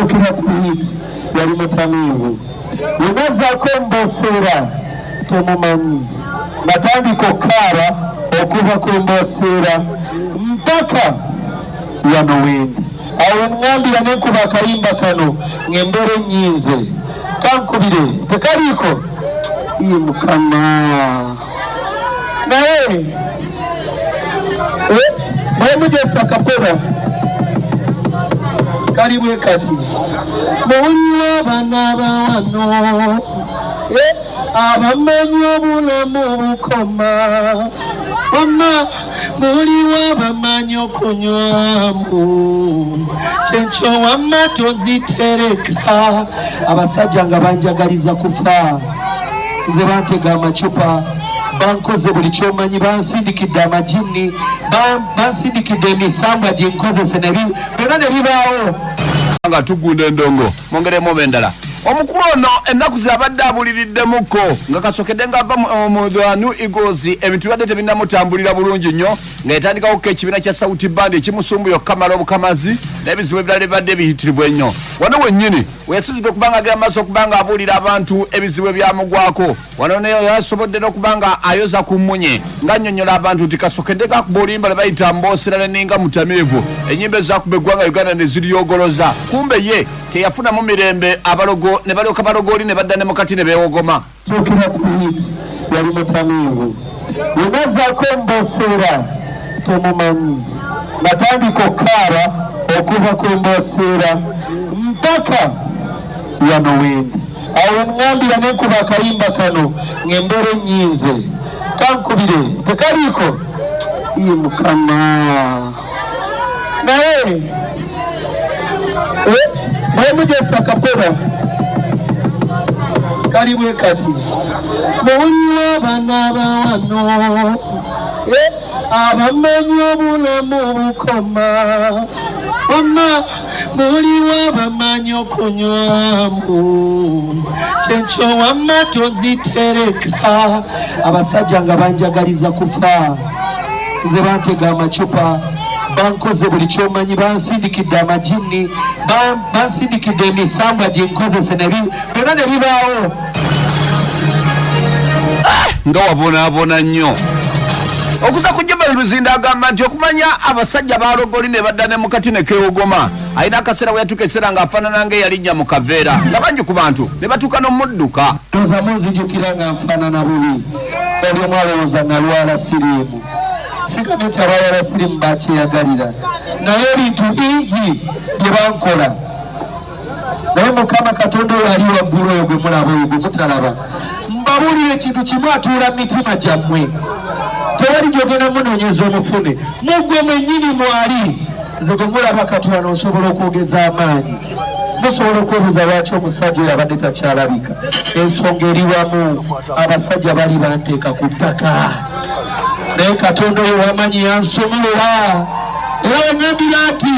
okira ku it yali mutamiivu yemazako mboseera temumanyi natandika okukaaba okuva ku mboseera mpaka wano wendi awo ngambira nenkuba akayimba kano ng'embeera ennyinze kankubire tekaliiko iyi mukama naye bwemu just akapera kali bwe kati muwuliwo abana bawano eh, abamanyi obulamu bukoma wama muliwo abamanyi okunywamu kyenkyo wama tozitereka abasajja nga banjagaliza kufa nze bantega amacupa bankoze buli kyomanyi bansindikidde amajinni bansindikidde emisambwa gyenkozese byona nebibaawo nga tugunda endongo mongeremu oba endala omukulu ono ennaku zabadde abuliriddemukko nga kasokedde nga ava mu the new eagles ebintu bibadde tebinamutambulira bulungi nnyo nga yatandikawo ko ekibiina kya sauti band ekimusumbuya okukamala obukamazi n'ebizibu ebirala ebibadde ebiyitirivu ennyo wano wennyini weyasinzidde okuba nga agenda maaso okuba nga abuulira abantu ebizibu ebyamugwako wano naye yasobodde n'okuba nga ayoza ku mmunye ng'annyonnyola abantu nti kasokedde gakuba oluyimba lwe bayita mboosera neninga mutamiivu ennyimba ezakuba eggwanga uganda ne ziryogoloza kumbe ye teyafunamu mirembe abalogo ne balyoka balogooli ne badda ne mukati ne beewogoma Kyokera Kuhit yali mutamiivu. Bwe nazzaako Mboseera temumanyi, natandika okukaaba okuva ku Mboseera mpaka wano wendi. Awo we ŋŋambira ne nkuba akayimba kano ng'embeera ennyinze. Kankubire tekaliiko? Ii Mukama! naye eh, bwemujesta kapera kali bwe kati muwuliwo abana bawano eh, abamanyi obulamu bukoma wama muliwa bamanyi okunywamu kyekyo wamma tozitereka abasajja nga banjagaliza kufa nze bantega amacupa bankoze buli kyomanyi bansindikidde amajinni bansindikidde emisambwa ginkozese byona nebibaawo nga wabonaabona nnyo okuza ku jemali luzinda agamba nti okumanya abasajja balogoli ne badda ne mukati ne kewogoma alina akaseera bwe yatuuka ekiseera ng'afaanana nga eyalinnya mu kaveera nga bangi ku bantu ne batuuka n'omudduka tozamu nzijukira nga nfaanana bubi oli omu alowooza nalwala siriimu sigambe nti abalwala siriimu bakyeyagalira naye ebintu bingi bye bankola naye mukama katonda oyo ali waggulu oyo gwe mulaba oyo gwe mutalaba mbabuulira ekintu kimu atuula mu mitima gyammwe tewali gyogenda munoonyeza omufune mugwe mwennyini mwali nze gwe mulaba katula noosobola okwogeza amaanyi musobola okwebuuza lwaki omusajja oyo abadde takyalabika ensonga eri wamu abasajja bali banteeka ku ttaka naye katonda oyo wamanyi yansumulula era wanyambira nti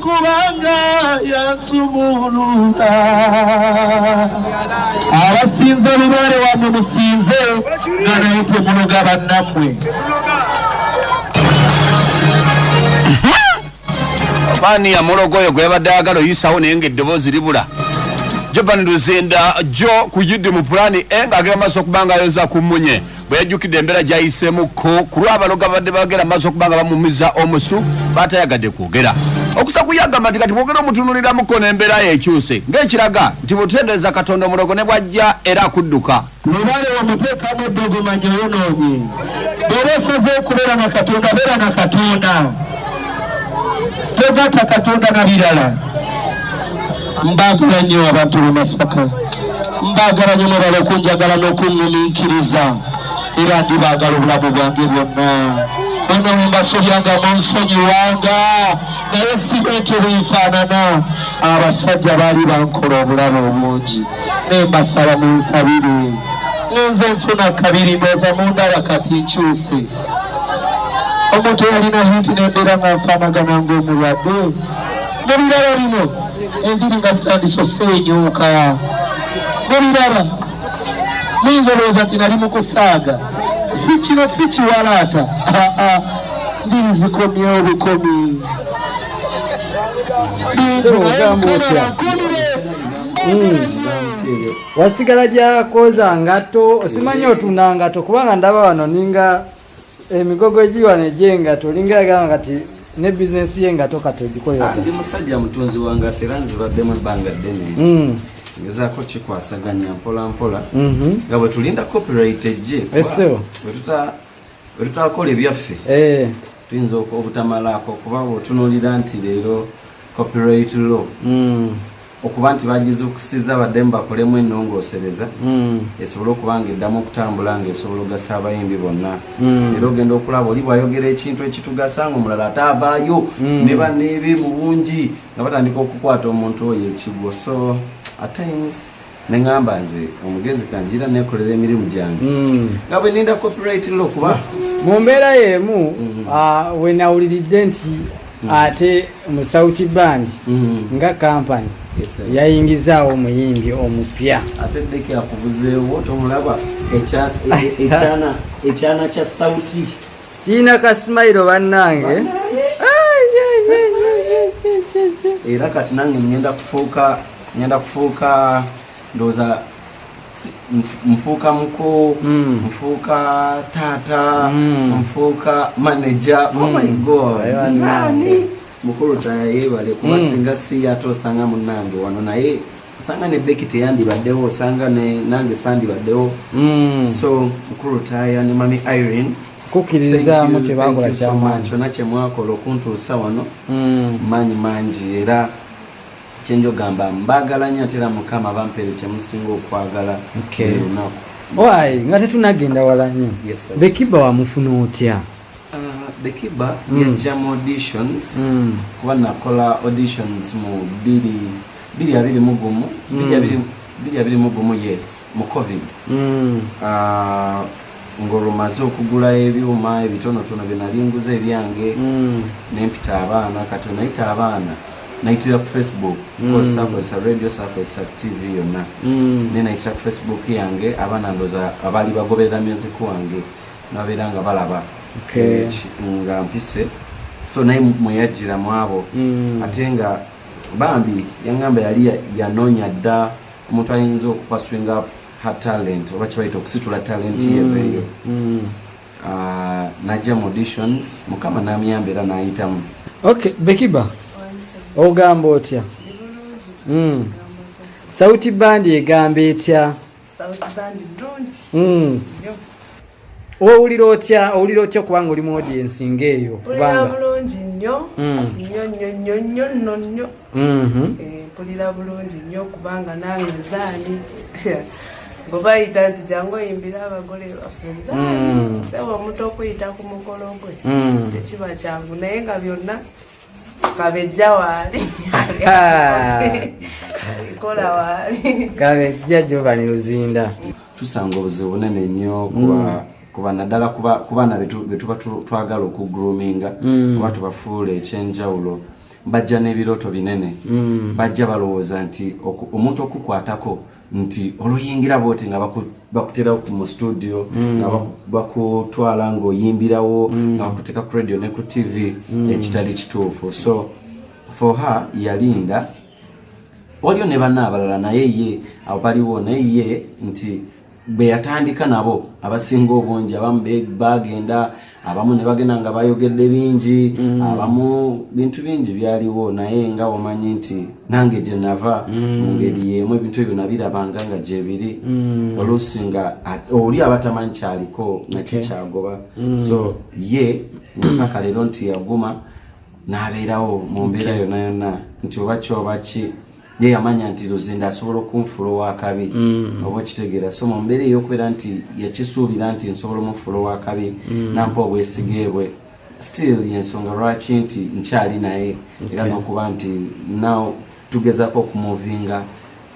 kubanga yansumuluta abasinza lubaale wamwe musinze nga naye temunoga bannammwe fani ya mulogo oyo gwe yabadde ayagala oyisawo naye nga eddoboozi libula jovan luzinda jo ku yidi mu pulani e ng'agenda maaso okubanga ayonza ku mmunye bwe yajjukidde embeera gyayiseemukko ku lw'abaloga babadde bagera maaso okuba nga bamumiza omusu baatayagadde kwogera okusa kuyagamba nti kati bwogera omutunuliramuko n'embeera ye ekyuse ng'ekiraga nti butendereza katonda omulogo ne bwajja era akudduka mubale omuteekamu eddogo manya yonoonyi bw'oba osaze okubeera na katonda beera na katonda togatta katonda na birala Mbagala nnyo abantu b'e Masaka, mbagala nnyo mwebale okunjagala n'okuŋŋumiikiriza era ndi baagala obulamu bwange bwonna. Bano mbasobyanga munsonyiwanga naye sibe nti bwenfaanana abasajja baali bankola obulamu obungi naye mbasaba munsabire nze nfuna kabiri ndooza mundaba kati nkyuse omuntu yalina hiti nembeera nga nfaanagana ng'omulwadde Mubiraba bino embiri nga zitandise osenyuuka. Mubiraba muyinza olowooza nti nali mu kusaaga, si kino si kiwalaata, mbiri zikomye obukomi bingi naye mukabala nkumire wasigala gyakoza ngato osimanya otunda ngato kubanga ndaba wano ninga emigogo egiwano egyengato olinga yagamba kati ne bizinesi y'engato kati ogikolera ah, ndi musajja mutunzi wangato era nzibaddemu ebbanga ddene hmm. ngezaako kikwasaganya mpola mpola mhm. nga bwe tulinda copyright ejje bwetutakola ebyaffe eh. tuyinza obutamalaako kuba bwotunulira nti leero copyright law hmm. okuba nti bagizuukusiza baddemu bakolemu ennongoosereza hmm. esobole okuba nga eddamu okutambula nga esobola ogasa abayimbi bonna hmm. era ogenda okulaba oli bwayogera ekintu ekitugasa nga omulala ate avaayo hmm. ne baneebe mu bungi nga batandika okukwata omuntu oyo ekigwo so at times neŋamba nze omugezi kanjira nekolera emirimu gyange nga bwe ninda copyright lo kuba mu mbeera y'emu ah, wenawuliridde nti mm. ate mu south band mm. nga kampani yes, yayingizaawo omuyimbi omupya ate deke akubuzeewo tomulaba ekyana e, e, kya sauti kiina kasimairo bannange era kati nange ngenda kufuuka ngenda kufuuka ndoza nfuuka muko mm. nfuuka taata mm. nfuuka manaja oh my mm. god nzani mukulu taya yebale kuba singa si ate osanga munange wano naye osanga ne beki teyandibaddewo osanga nange sandibaddewo so mukulu taya ne mami irene kukiririzaamu kyebakola kyamaanyi kyona kyemwakola okuntuusa wano maanyi mangi era kyenjo gamba mbagala nyo atera mukama bampere kyemusinga okwagala olunaku wayi nga tetunagenda wala nyo bekiba wamufuna otya uh, bekiba mm. yajja mu auditions mm. kuba nakola auditions mu biri biri abiri mugumu biri mm. abiri mugumu yes mu covid uh, ngolwo maze okugula ebyuma ebitonotono byenali nguza ebyange mm. nempita abaana kati onayita abaana nayitira ku facebook mm. sakozesa radio sakozesa tv yonna mm. naye nayitira ku facebook yange abaana ndoza abaali bagoberera music wange nababeera nga balaba eh, nga mpise so naye mweyajjira mwabo ate nga bambi yangamba yali yanoonya dda omuntu ayinza okupaswinga her talent oba kibayita okusitula talent ye mm, eyo mm. ah, najja mu auditions mukama namuyamba era nayitamu ok bekiba ogamba otya mm. sauti bandi egamba etya owulira otya owulira otya kubanga oli mu audiensi ngaeyo kubanga bulungi nnyo hmm. nnyo nnyo nnyo nnyo nno nnyo mm-hmm. eh, mpulira bulungi nnyo kubanga nange nzaani bwebayita nti jangu oyimbira abagole baffe hmm. sebo omuntu okuyita ku mukolo gwe hmm. tekiba kyangu naye nga byonna kabejja waali ah. kola waali kabejja jovani luzinda tusanga obuzibu bunene nnyo kuba mm. kuba naddala ku baana betuba twagala okugroominga mm. oba tubafuula ekyenjawulo bajja n'ebirooto binene mm. bajja balowooza nti omuntu okukwatako nti oluyingira bwoti nga bakutera mu studio mm. nga bakutwala ng'oyimbirawo nga bakuteeka ku radio ne ku tv ekitali kituufu so for her yalinda waliyo ne banna abalala naye ye awo baliwo naye ye nti bwe yatandika nabo abasinga obungi abamu bagenda abamu ne bagenda nga bayogedde bingi mm. abamu bintu bingi byaliwo naye nga wamanyi nti nange gye nava mm. mu ngeri yeemu ebintu ebyo nabirabanga nga gyebiri mm. oluusi nga oli abatamanyi kyaliko nakikyagoba so ye mpaka leero nti yaguma n'abeerawo mu mbeera yonna yonna nti oba kyoba ki ye yamanya nti luzinda asobola okunfula owakabi mm. oba okitegeera so mu mbeera ey'okubeera nti yakisuubira nti nsobola omufula owakabi mm. nampa obwesige bwe still yensonga lwaki nti nkyali naye era n'okuba nti now tugezako okumuvinga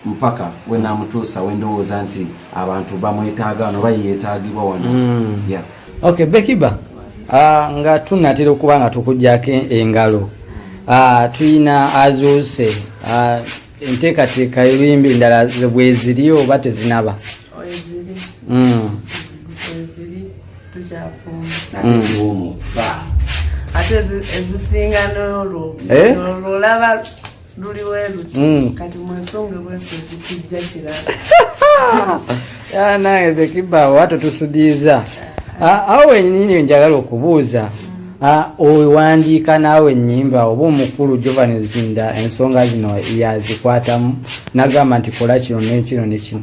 mpaka wenamutuusa wendowooza nti abantu bamwetaaga wano oba yeyetaagibwa wano mm. yeah. okay, bekiba uh, nga tunatera okuba nga tukujjako engalo uh, tuyina azuuse uh, enteekateeka oluyimba endala bweziri oba tezinaba mm. naye zekiba watu tusudiza ah, awo wenyini njagala okubuuza mm. Ah, owandiika naawe enyimba oba omukulu jovan zinda ensonga zino yazikwatamu nagamba nti kola kino nekino nekino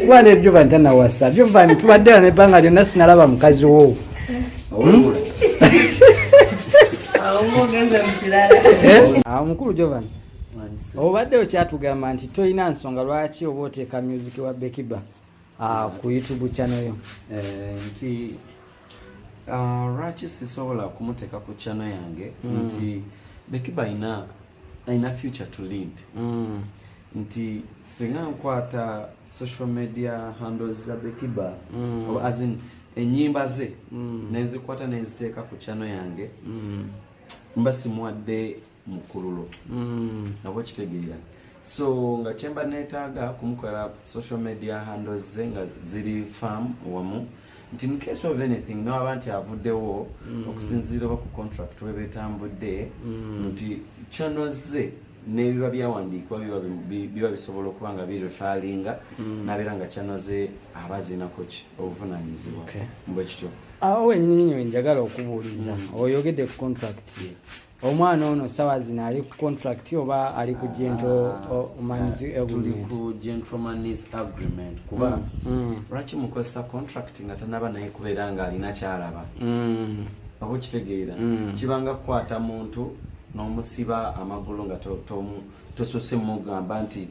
kuba ne jovan tanawasa jovan tubadde wano ebbanga lyonna sinalaba mukazi wo hmm? eh? ah, mukulu jovan obadde okyatugamba nti tolina nsonga lwaki oba oteeka music wa bekiba ah, ku youtube channel yo eh, nti ah, lwaki sisobola kumuteeka ku channel yange hmm. nti bekiba ina alina future to lead mm. nti singa nkwata social media handles za bekiba mm. or as in enyimba ze mm. nenzikwata nenziteeka ku chano yange mm. mba simuwadde mukululo mm. nabo kitegeera so nga kyemba netaaga kumukola social media handles ze nga ziri farm wamu nti in case of anything newaba nti avuddewo mm. okusinziira oba ku contract we betambudde mm. nti kyanozze nebiba byawandiikibwa biba bisobola okuba nga birefalinga mm. nabeera nga kyanoze abazinakoki obuvunanyizibwa mbwekityo awo wenyininyini wenjagala okubuuliza oyogedde ku contract omwana ono sawa zino ali ku contract oba ali ku gentleman's ah, agreement kuba mm, mm. lwaki mukozesa contract nga tanaba naye kubeera nga alina kyalaba mm. oba okitegeera kibanga kukwata muntu n'omusiba amagulu nga tosose mugamba nti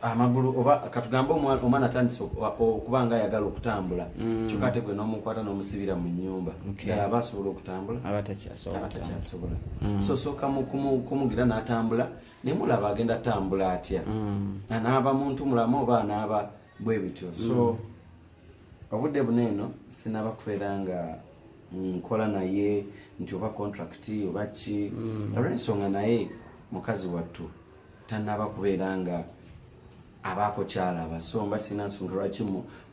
amagulu oba katugambe omwana atandise okuba nga ayagala okutambula mm. kyokka ate gwe n'omukwata n'omusibira mu nyumba ddala aba asobola okutambula abatakyasobola mm. so sooka kumugira n'atambula naye mulaba agenda atambula atya mm. anaaba muntu mulamu oba anaaba bwe bityo so obudde buna eno sinaba kubeera nga nkola naye nti oba contract oba ki olw'ensonga naye mukazi wattu tanaba kubeera nga abaako kyalaba so mba sina nsonga lwaki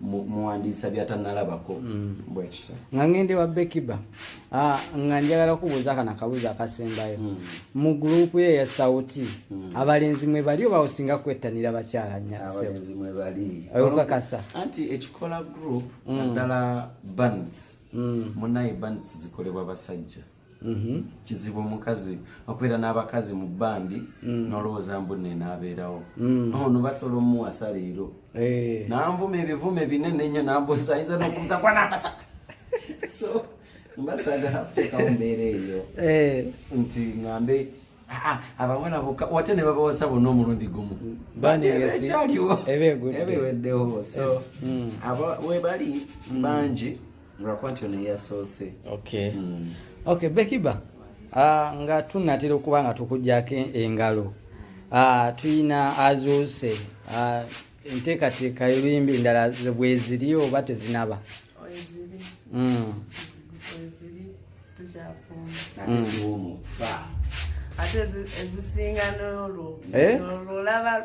muwandiisa byatanalabako mm. bwekito nga ngende wa bekiba ah, nga njagala kubuuza kana kabuuza akasembayo mm. mu gurupu ye ya sauti mm. abalenzi mwe bali oba osinga kwettanira bakyala nyakakasa anti ekikola gurupu naddala bands munaye bands zikolebwa basajja Mm-hmm. kizibu omukazi okubeera n'abakazi mu bandi mm. nolowooza mbu nenaabeerawo mm. ono basobola omuwasa leero eh. nanvuma ebivume binene nnyo nambusa ayinza nokubuza kwanambasa so mbasagala kuteekawo mbeera eyo eh. nti ngambe ah, ah, abawala boka wate ne babawasa bonna omulundi gumu mm. bandiekyaliwoebiweddewo so mm. webali bangi Lwakuba nti ono yasoose. Okay. Mm. Okay, Bekiba. Ah, nga tunatera okuba nga tukujjako engalo. Ah, tuyina azuuse. Ah, enteekateeka y'oluyimba endala bweziri oba tezinaba? Bweziri. Mm. Bweziri tukyafumba. Ate ziwumu. Ate ezisinga n'olwo. Eh? Olwo olaba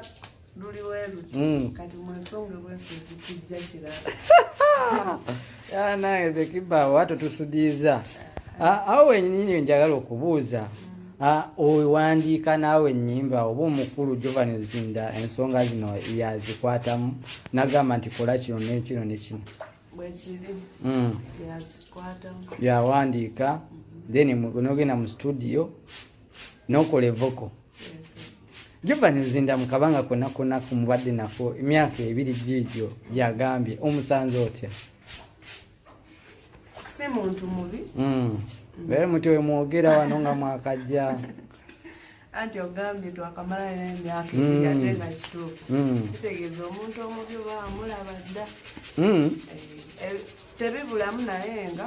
luli weruti mm. kati mwesonge bwensozi kijja kirala nawe zekiba watu tusudiza ah, awo wenyini njagala okubuuza mm. ah, owandiika naawe enyimba oba omukulu jovan zinda ensonga zino yazikwatamu nagamba nti kola kino nekino nekino mm. yawandiika then nogenda mu studio nokola evoko juba nezinda mukabanga kona kona kumubadde nako emyaka ebiri giigyo gyagambye omusanze otya si muntu mubi mm. naye muti wemwogera wano nga mwakajja anti ogambye twakamala nemyaka mm. ate nga kituufu mm. kitegeeza omuntu omubi oba amulaba dda eh, eh, tebibulamu naye nga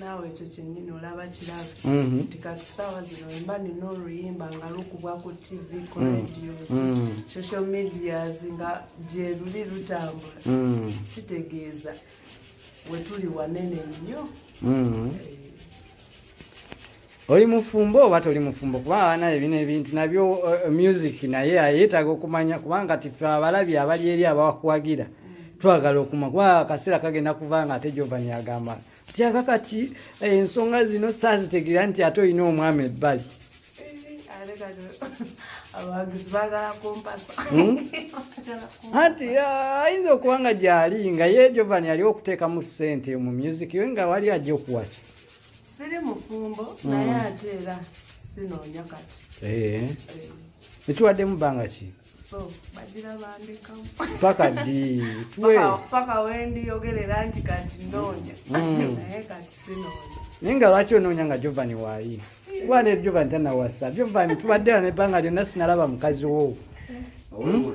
naawe ekyo kyennyini olaba kirabe mhm. nti kati saawa zino mba nina oluyimba nga lukubwa ku tv ku mm. radios mm. social medias nga gyeruli lutambula mm. kitegeeza wetuli wanene nnyo eh. oli mufumbo oba toli mufumbo kuba abanaye bino ebintu nabyo uh, music naye ayetaaga okumanya kubanga tife abalabi abali eri abawakuwagira twagala okuma kuba akaseera kagenda kuva nga ate jovani agamba tyaga kati eh, ensonga zino saazitegera nti ate olina omwami ebbali Hmm? anti ayinza okuba nga gyali nga ye jovani ali okuteekamu sente mu music yo nga wali ajja okuwasa siri mufumbo mm. naye ate era sinoonya kati eh. Eh. ekiwaddemu bbanga ki paka ddi paka wendiyogerera nti kati noonya mm. naye kati sinoonya naye nga lwaki onoonya nga jovani waayi wale jovani tanawasa jovani tubaddera nebbanga lyonna sinalaba mukazi wo hmm?